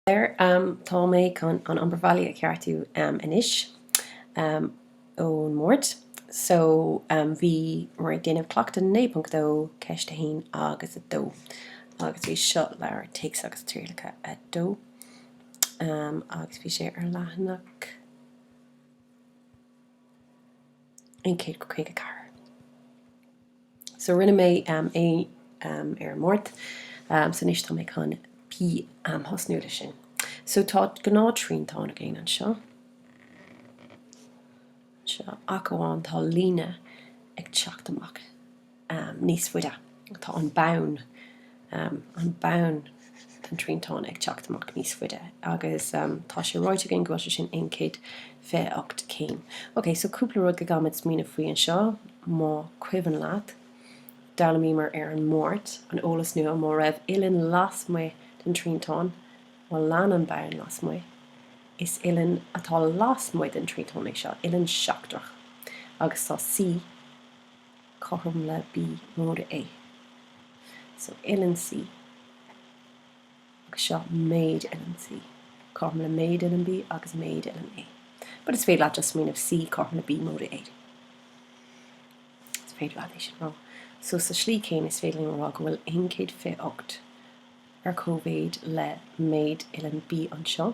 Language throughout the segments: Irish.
There, tá mé chun an obair bhaile a cheartú anois ón Máirt. So, bhíomar ag déanamh Cleachtadh 9.2, Ceist 1 agus 2. Agus bhí seo leabhar Téacs agus Trialacha 2. Agus bhí sé ar leathanach. 154. So rinne mé é ar an Máirt, so anois tá mé chun bheith ag tosú leis sin. So tá gnáth triantán againn anseo, anseo, ach amháin tá líne ag teacht amach. níos faide. Tá an bonn, an bonn den triantán ag teacht amach níos faide agus tá sé ráite againn go bhfuil sé sin 128 céim. Ok, so cúpla rud go gcaithfimid smaoineamh faoi anseo, más cuimhin leat, d'fhoghlaimíomar ar an Máirt, an eolas nua, má raibh uillinn lasmuigh den triantán, má lean an bonn lasmuigh, is uillinn atá lasmuigh den triantán é seo, uillinn seachtrach, agus tá C, cothrom le B móide A. So uillinn C agus seo méid uillinn C cothrom le méid uillinn B agus méid uillinn A. But is féidir leat just smaoineamh C cothrom le B móide A. Is féidir leat é sin a rá. So sa slí céanna is féidir linn a rá go bhfuil 128 ar comhéid le méid uillinn B anseo,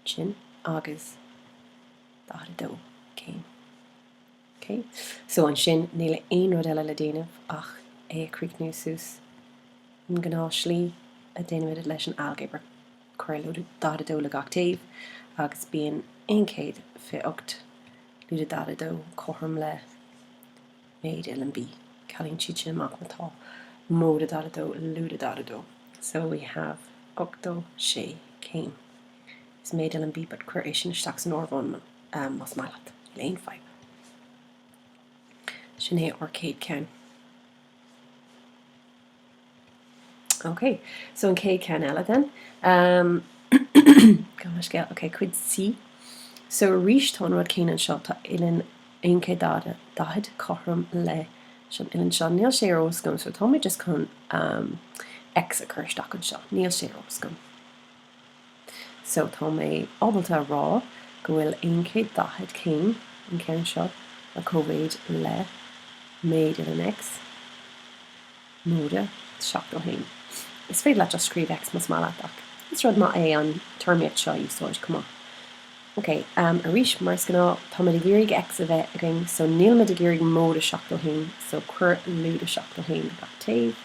sin, agus 42 céim. OK? So ansin níl aon rud eile le déanamh ach é a chríochnú suas an gnáth slí a dhéanaimid leis an ailgéabar. Cuir lúide daichead a dó le gach taobh agus bíonn aon chéad fiche ocht lúide daichead a dó cothrom le méid uillinn B. Cealaíonn siad sin amach má tá móide daichead a dó lúide daichead a dó. So we have ochtó sé céim. Is méid uillinn B but cuir é sin isteach san fhreagra más maith leat. Níl aon fadhb. Sin é an céad ceann. Ok, so an céad ceann eile then. Um, Gan an scéal. Ok, cuid C. So arís tá an rud céanna anseo, tá uillinn 140 cothrom le sin, uillinn seo. Níl sé ar eolas agam so tá mé just chun um, X a cur isteach anseo. Níl sé ar os gom. So tá mé ábalta a rá go bhfuil aon chéad daichead céim an ceann seo ar comhéid le méid uillinn X móide seachtó haon. Is féidir leat just scríobh X más maith leat ach is rud maith é an téarmaíocht seo a úsáid chomh maith. Ok, arís mar is gnáth táimid ag iarraidh X a bheith againn so nílimid ag iarraidh móide seachtó haon so cuir lúide seachtó haon ar gach taobh.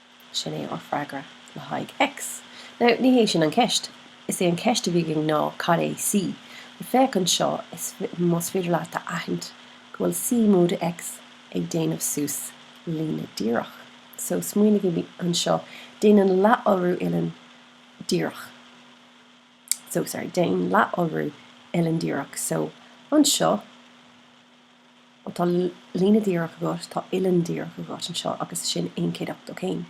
Sin é ár freagra le haghaidh X. Now, ní hé sin an ceist. Is é an ceist a bhí againn ná cad é C. Now, féach anseo, is más féidir leat a aithint go bhfuil C móide X ag déanamh suas líne díreach. So, smaoinigí anseo, déanann leath-iolrú uilleann díreach. So, sorry, déan leath-iolrú uilleann díreach. So, anseo. Má tá líne díreach agat, tá uilleann díreach agat anseo agus sin aon chéad ochtó céim.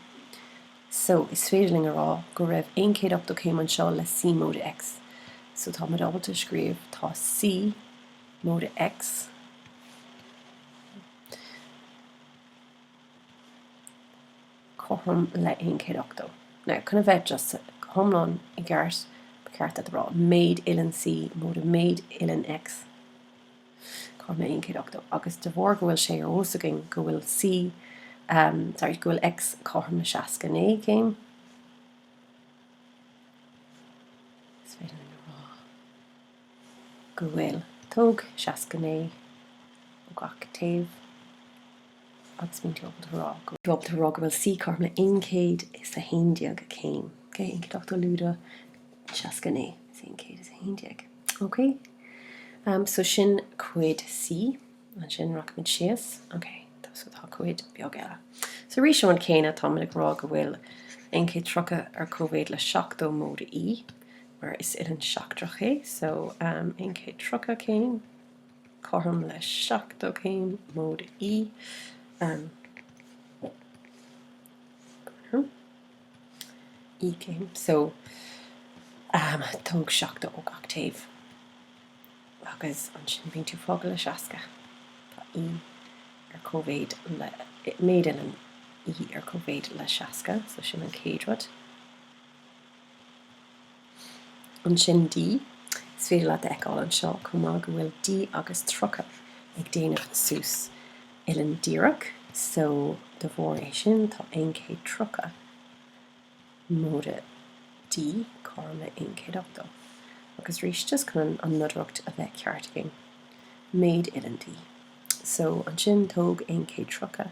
So, is féidir linn a rá go raibh aon chéad ochtó céim anseo le C móide X. So, tá muid ábalta scríobh, tá C móide X cothrom le aon chéad ochtó. Now, chun a bheith just, go hiomlán i gceart, ba cheart duit a rá, méid uilleann C móide méid uilleann X. cothrom le 180 agus de bharr go bhfuil sé ar eolas againn go bhfuil C, em, sorry, go bhfuil X cothrom le 69 céim, is féidir linn a rá go bhfuil, tóg 69 ó gach taobh. agus bíonn tú ag rá go bhfuil C cothrom le 111 céim. Ok, 180 lúide 69 is é 111. Ok, am, so sin cuid C, ansin rachaimid síos. Ok, tá, so tá cuid beag eile. So arís an céanna, táimid ag rá go bhfuil 130 ar cóimhéid le 70 móide E, mar is uilleann seachtrach é, so am, 130 céim. cothrom le seachtó céim, móide E céim, so tóg seachtó ó gach taobh agus ansin bíonn tú fágtha le seasca. Tá E ar cóimhéid le, méid uilleann E ar cóimhéid le seasca, so sin an chéad rud. Ansin D, is féidir leat a fheiceáil anseo chomh maith go bhfuil D agus 30 ag déanamh suas uilleann díreach so de bharr é sin tá 130 móide D, cothrom le 180. Agus arís just chun an nodaireacht a bheith ceart againn, méid uilleann D. So ansin tóg 130.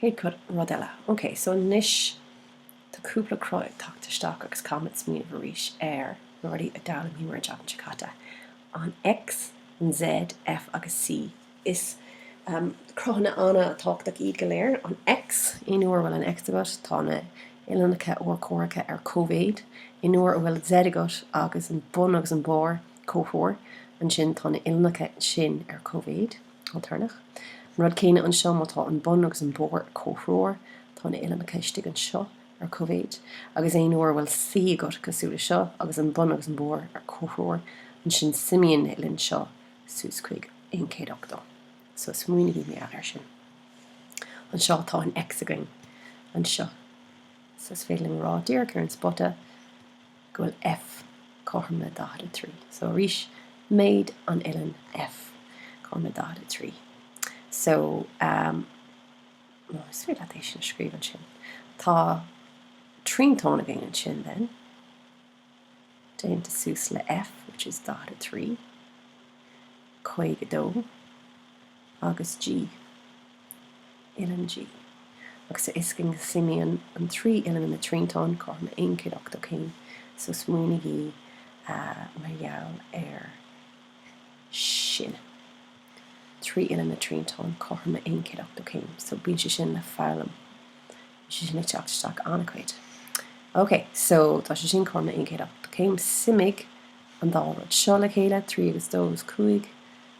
Chéad cuid, rud eile. OK, so anois tá cúpla cruth ag teacht isteach agus caithfimid smaoineamh arís ar na rudaí a d'fhoghlaimíomar an tseachtain seo caite. An X, an Z, F agus C. Is cruthanna an-tábhachtach iad go léir. An X, aon uair a bhfuil an X agat tá na huillinneacha urchomhaireacha ar cóimhéid. Aon uair a bhfuil Z agat agus an bun agus an barr comhthreomhar, ansin tá na huillinneacha sin ar cóimhéid. Alternach. An rud céanna anseo má tá an bun agus an barr comhthreomhar. Tá na huillinneacha istigh anseo ar cóimhéid agus aon uair a bhfuil C agat cosúil le seo agus an bun agus an barr ar comhthreomhar ansin suimíonn na huillinn seo suas chuig 180. So smaoinigí air sin. Anseo tá an X againn anseo. So is féidir liom a rá díreach ar an spota. go bhfuil F cothrom le 43. So arís méid an uillinn F cothrom le 43. So is féidir leat é sin a scríobh ansin. Tá triantán againn ansin then déanta suas le F which is 43, 52 agus G. uilleann G, agus a fhios againn go suimíonn an trí uilleann ina dtriantán cothrom le 180 céim, so smaoinigí mar gheall ar sin. Trí uilleann ina dtriantán cothrom le 180 céim, so bíonn sé sin le foghlaim, bíonn sé sin ag teacht isteach an-chuid. Ok, so tá sé sin cothrom le 180 céim, suimigh an dá rud seo le chéile, trí agus dó is cúig,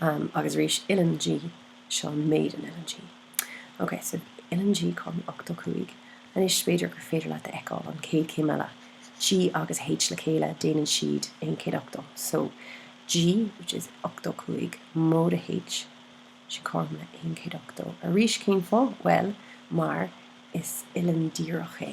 Um, agus arís, Uilleann G, seo méid an Uilleann G. Ok, so Uilleann G, cothrom le 85. Anois, b'fhéidir gur féidir leat a fheiceáil an chéad chéim eile. G agus H le chéile, déanann siad aon chéad ochtó. So, G, which is 85, móide H, sin cothrom le aon chéad ochtó. Arís, cén fáth? Bhuel, mar is uilleann díreach é.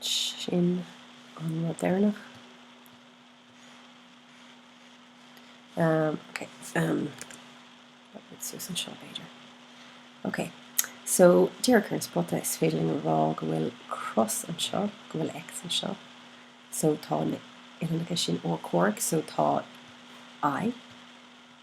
Sin an rud deireannach. Ok. Suas anseo b'fhéidir. Ok. So, díreach ar an spota is féidir linn a rá go bhfuil cros anseo, go bhfuil X anseo. So tá na uillinneacha sin urchomhaireach. So tá I.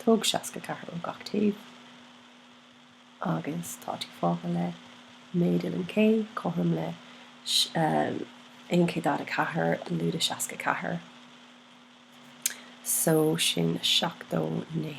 Tóg seasca ceathair ó gach taobh agus tá tú fágtha le méid uilleann K cothrom le aon chéad daichead a ceathair lúide seasca ceathair so sin seachtó naoi.